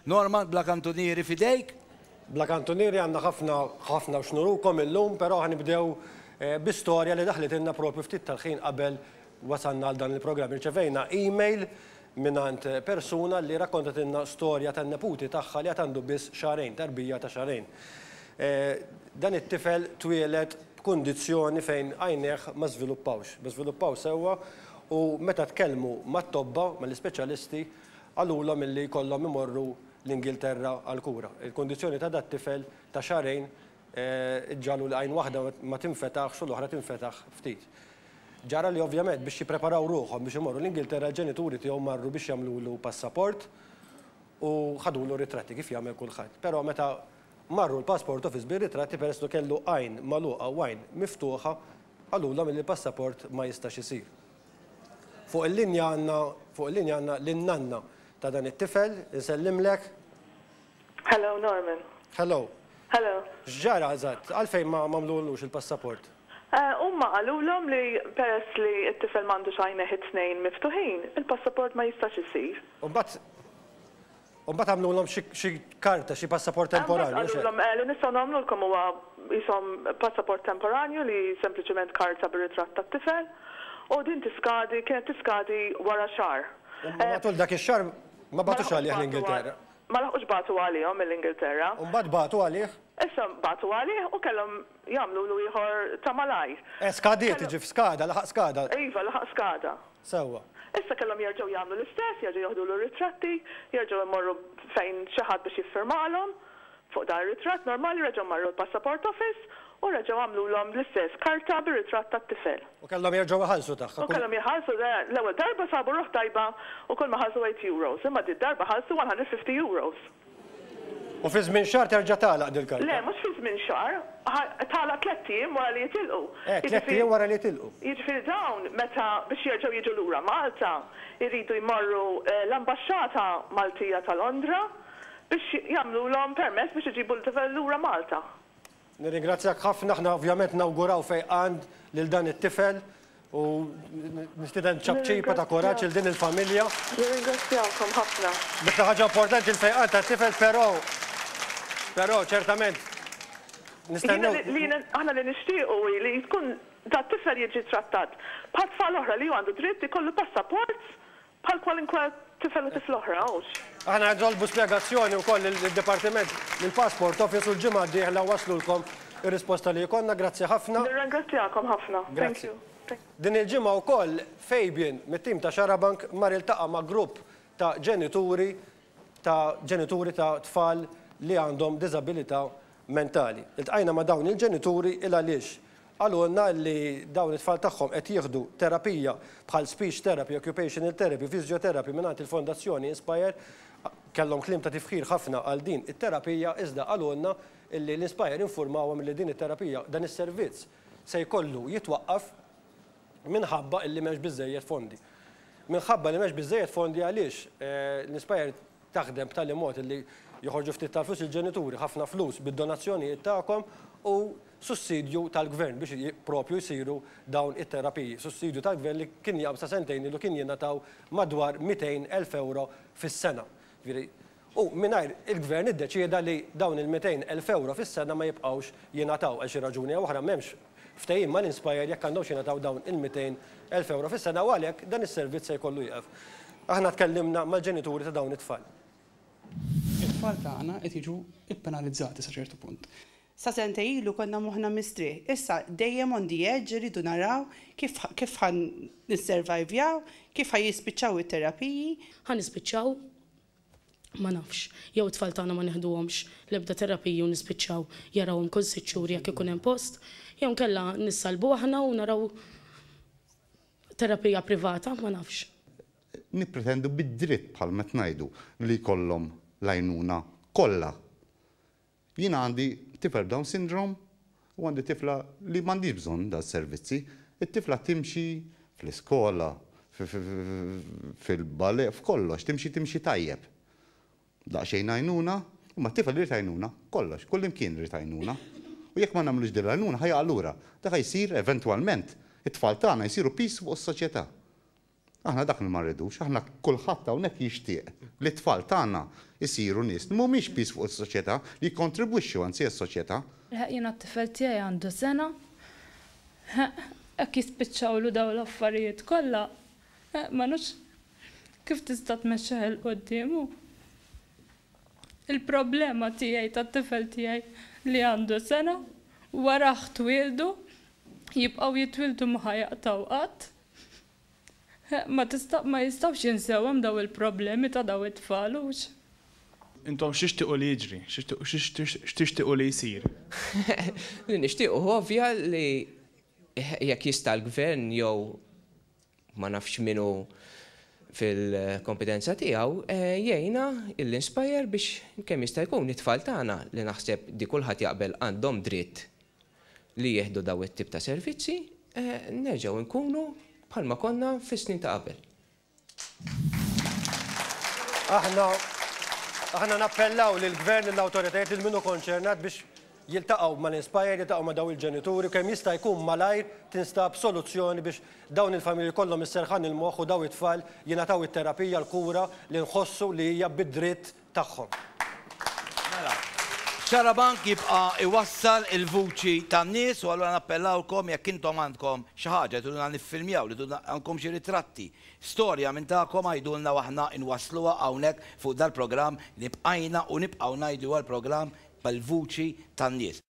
Norman, bla kantunieri f'idejk. Bla kantunieri għandna ħafna, ħafna x'nurukom illum, però ħa nibdew bi storja li daħlitilna propju ftit tal-ħin qabel wasalna għal dan il-programm. Irċevejna email mingħand persuna li rakkontatilna storja tan-neputi tagħha li għad għandu biss xahrejn, tarbija ta' xahrejn. Dan it-tifel twieled b'kundizzjoni fejn għajnejh ma żviluppawx, ma żviluppaw sewwa u meta tkellmu mat-tobba, mal-ispeċjalisti, qalulhom illi jkollhom imorru l-Ingilterra għall-kura. Il-kundizzjoni ta' dat-tifel ta' xahrejn ġġagħlu li għajn waħda ma tinfetaħx u l-oħra tinfetaħ ftit. Ġara li ovvjament biex jippreparaw ruħhom biex imorru l-Ingilterra l-ġenituri tiegħu marru biex jagħmlulu passaport u ħadulu ritratti kif jagħmel kulħadd. Però meta marru l-passport office bir-ritratti peress li kellu għajn magħluqa u għajn miftuħa qalulhom illi l-passaport ma jistax isir. Fuq il-linja għandna fuq il-linja għandna lin-nanna ta' dan it-tifel, insellimlek. Hello Norman. Hello. Hello. X'ġara eżatt? Għalfejn ma għamluhulux il-passaport? Huma qalulhom li peress li t-tifel m'għandux għajnejh it-tnejn miftuħin, il-passaport ma jistax isir. U mbagħad U mbagħad għamlulhom xi xi karta, xi passaport temporanju, mhux hekk? Mbagħad qalulhom, eh, li nistgħu nagħmlulkom huwa qishom passaport temporanju li sempliċement karta bir-ritratt tat-tifel, u din tiskadi, kienet tiskadi wara xahar. U matul dak ix-xahar ma bagħtux għalih l-Ingilterra. Ma laħqux bagħtu għalihom mill-Ingilterra. U mbagħad bagħtu għalih? Issa bagħtu għalih u kellhom Jagħmlulu ieħor ta' malajr. Eh, skadiet, iġi f'skada, laħaq skada. Iva, laħaq skada. Sewwa. Issa kellhom jerġgħu jagħmlu l-istess, jerġgħu joħdulu r-ritratti, jerġgħu imorru fejn xi ħadd biex jiffirmalhom fuq dan ir-ritratt normali, reġgħu marru l-Passaport Office u reġgħu għamlulhom l-istess karta bir-ritratt tat-tifel. U kellhom jerġgħu jħallsu tagħha kull. U kellhom jħallsu, le, l-ewwel darba sabu ruħ tajba u kull ma ħallsu eight euros, imma did-darba ħallsu one hundred fifty euros. U fi żmien xahar terġa' tagħlaq dil-karta? Le, mhux fi żmien xahar. Tagħlaq tlett ijiem wara li jitilqu. Eh, tlett ijiem wara li jitilqu. Jiġifieri dawn meta biex jerġgħu jiġu lura Malta jridu jmorru l-Ambaxxata Maltija ta' Londra biex jagħmlulhom permess biex iġibu lura Malta. Nirringrazzjak ħafna, aħna ovvjament nawguraw fejqan lil dan it-tifel u nistieden ċapċipa ta' kuraġġ lil din il-familja. Nirringrazzjakom ħafna. L-iktar ħaġa importanti l-fejqan tat-tifel però però ċertament nistennew. Jiena li aħna li nixtiequ hi li tkun dat-tifel jiġi trattat bħat-tfal oħra li hu għandu dritt ikollu passaport Bħal kwalunkwe tifel u tifla oħra, hux? Aħna nitolbu spjegazzjoni wkoll lid-Dipartiment, lill-Passport Office u l-ġimgħa d-dieħla waslulkom ir-risposta li jkollna. Grazzi ħafna. Nirringrazzjakom ħafna. Thank you. Grazzi. Din il-ġimgħa wkoll Fabian mit-tim ta' Xarabank mar iltaqa' ma' grupp ta' ġenituri ta' ġenituri ta' tfal li għandhom diżabilità mentali. Iltqajna ma' dawn il-ġenituri il għaliex qalulna li dawn it-tfal tagħhom qed jieħdu terapija bħal speech therapy, occupational therapy, physiotherapy mingħand il-Fondazzjoni Inspire. Kellhom kliem ta' tifħir ħafna għal din it-terapija iżda qalulna li l-Inspire infurmawhom li din it-terapija, dan is-servizz se jkollu jitwaqqaf. minħabba illi m'hemmx biżżejjed fondi. Minħabba li m'hemmx biżżejjed fondi għaliex l-Inspire taħdem b'tali mod illi joħorġu ftit tal-flus il-ġenituri, ħafna flus bid-donazzjonijiet tagħkom u sussidju tal-Gvern biex propju jsiru dawn it-terapiji. Sussidju tal-Gvern li kien jgħabb sa sentejn ilu kien jingħataw madwar mitejn elf ewro fis-sena. Jiġifieri U mingħajr, il-Gvern iddeċieda li dawn il-200 elf ewro fis-sena ma jibqgħux jingħataw għal xi raġuni jew oħra m'hemmx ftehim mal-Inspire jekk għandhomx jingħataw dawn il-200 elf ewro fis-sena u għalhekk dan is-servizz se jkollu jieqef. Aħna tkellimna mal-ġenituri ta' dawn it-tfal. It-tfal tagħna qed jiġu ppenalizzati sa ċertu punt. Sa sentejn ilu konna moħħna mistrieħ. Issa dejjem on the edge irridu naraw kif kif ħa nisservajvjaw, kif ħa jispiċċaw it-terapiji. Ħa nispiċċaw ma nafx, jew it-tfal tagħna ma neħduhomx l-ebda terapiji u nispiċċaw jarawhom kull sitt xhur jekk ikun hemm post, jew inkella nissalbu aħna u naraw terapija privata, ma nafx. Nippretendu bid-dritt, bħalma qed ngħidu, li jkollhom l-għajnuna kollha Jiena għandi tifel b'Down Syndrome u għandi tifla li m'għandhiex bżonn dal-servizzi. It-tifla timxi fl-iskola, fil-ballet, f'kollox, timxi timxi tajjeb. Daqsxejn għajnuna, imma t-tifel irid għajnuna, kollox, kullimkien irid għajnuna. U jekk ma nagħmlux din l-għajnuna ħa jaqa' lura. Dak ħa jsir eventwalment, it-tfal tagħna jsiru piż fuq is-soċjetà. Aħna dak li ma rridux, aħna kulħadd hawnhekk jixtieq li t-tfal tagħna jsiru nies li mhumiex piż fuq is-soċjetà, li jikkontribwixxu anzi għas-soċjetà. Eħ, jiena t-tifel tiegħi għandu sena, eħ, jekk jispiċċawlu dawn l-affarijiet kollha, eħ, ma nafx kif tista' tmexxih 'il quddiem hu. Il-problema tiegħi tat-tifel tiegħi li għandu sena, warah twieldu, jibqgħu jitwieldu ma ħa jaqtgħu qatt. Ma jistgħux jinsew hemm dawn il-problemi ta' dawn it-tfal, hux? Intom x'tixtiequ li jiġri? X'tixtiequ li jsir? Li nixtiequ hu ovvja li jekk jista' l-Gvern jew ma nafx min hu fil-kompetenza tiegħu jgħinna l-Inspire biex kemm jista' jkun it-tfal tagħna li naħseb di kulħadd jaqbel għandhom dritt li jieħdu dawn it-tip ta' servizzi, nerġgħu nkunu bħalma konna fis-snin ta' qabel. Aħna nappellaw lill-Gvern, lill-awtoritajiet, lil min hu konċernat biex jiltaqgħu mal-Inspire, jiltaqgħu ma' dawn il-ġenituri u kemm jista' jkun malajr tinstab soluzzjoni biex dawn il-familji jkollhom is-serħan il-moħħ u dawn it-tfal jingħataw it-terapija, l-kura li nħossu li hija bid-dritt tagħhom. Mela, Xarabank jibqa' jwassal il-vuċi tan-nies u allura nappellawlkom jekk intom għandkom xi ħaġa li triduna niffilmjaw, li triduna għandkom xi ritratti, storja minn tagħkom għidulna u aħna nwassluha hawnhekk fuq dal-programm li bqajna u nibqgħu ngħidu li huwa l-programm bil-vuċi tan-nies.